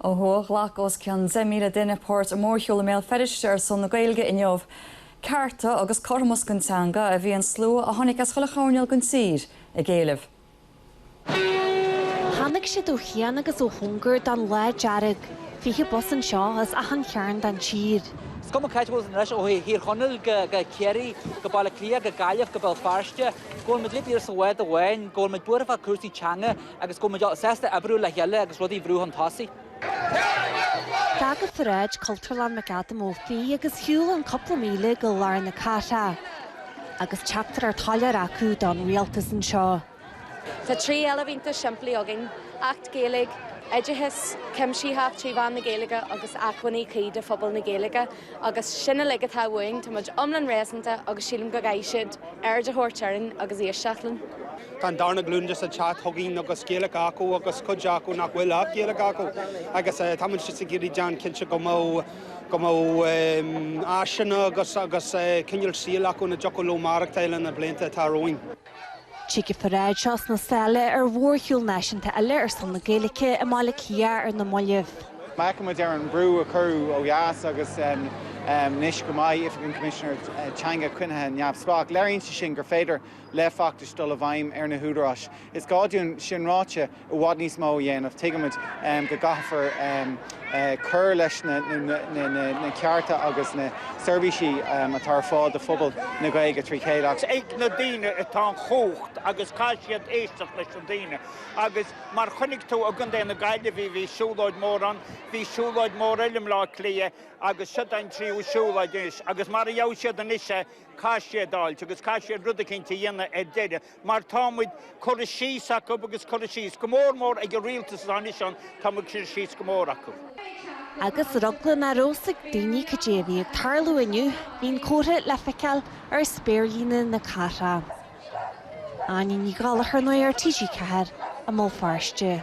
Ó thuaidh, ghlac os cionn 10,000 duine páirt i mórshiúl i mBéal Feirste ar son na Gaeilge inniu. Cearta agus cothromas don teanga a bhí an slua a tháinig as chuile choirnéal den tír ag éileamh. Tháinig siad ó chian agus ó chóngar don Lá Dearg, 20 bus anseo as achan chearn den tír. Is cuma c'áit a bhfuil siad anois, ó Thír Chonaill go Ciarraí, go Baile Átha Cliath, go Gaillimh, go Béal Feirste, go bhfuil muid uilig go léir sa bhád amháin, go bhfuil muid buartha fá chúrsaí teanga. Agus go bhfuil muid sásta oibriú le chéile agus rudaí a bhrú chun tosaigh. D'fhág an pharáid Cultúrlann McAdam Ó Fiaich agus shiúil an cúpla míle go lár na cathrach. Agus teachtaireacht shoiléir acu don rialtas anseo. Tá trí éileamh iontach simplí againn, Acht Gaeilge, oideachas cuimsitheach trí mheán na Gaeilge agus acmhainní cuí do phobal na Gaeilge. Agus sin uilig atá uainn, tá muid iomlán réasúnta agus sílim go gcaithfidh siad aird a thabhairt orainn agus éisteacht linn. Tá an darna glúin just ag teacht chugainn agus Gaeilge acu agus cuid acu nach bhfuil ach Gaeilge acu agus tá muid just ag iarraidh déanamh cinnte go mbeadh go mbeadh áiseanna agus agus cineál saoil acu ina dtiocfadh leo maireachtáil sna blianta atá romhainn. Tig an pharáid seo sna sála ar mhórshiúl náisiúnta eile ar son na Gaeilge i mBaile Átha Cliath ar na mallaibh. Má fhéachann muid ar an mbrú a cuireadh ó dheas agus anois go mbeidh Oifig an Choimisinéara Teanga coinnithe neamhspleách. Léiríonn sé sin gur féidir le feachtais dul i bhfeidhm ar na húdaráis. Is gá dúinn, sin ráite, i bhfad níos mó a dhéanamh. Tuigimid go gcaithfear cur leis na cearta agus na seirbhísí atá ar fáil do phobal na Gaeilge trí chéile ach. Is ag na daoine atá an chumhacht agus caithfidh siad éisteacht leis na daoine. Agus mar a chonaic tú i gContae na Gaillimhe bhí siúlóid mór ann, bhí siúlóid mór eile i mBleá Cliath agus seo an tríú siúlóid anois. Agus mar a gheobhaidh siad anois é, caithfidh siad a fháilt agus caithfidh siad rud eicínt a dhéanamh ar deireadh. mar tá muid curtha síos acu agus curtha síos, go mór mór, ag an rialtas atá anois ann, tá muid curtha síos go mór acu. Agus ar eagla nach raibh a fhios ag daoine cad é a bhí ag tarlú inniu, bhí an comhartha le feiceáil ar spéirlíne na cathrach. Áine Ní Ghallchóir, Nuacht TG4, i mBéal Feirste.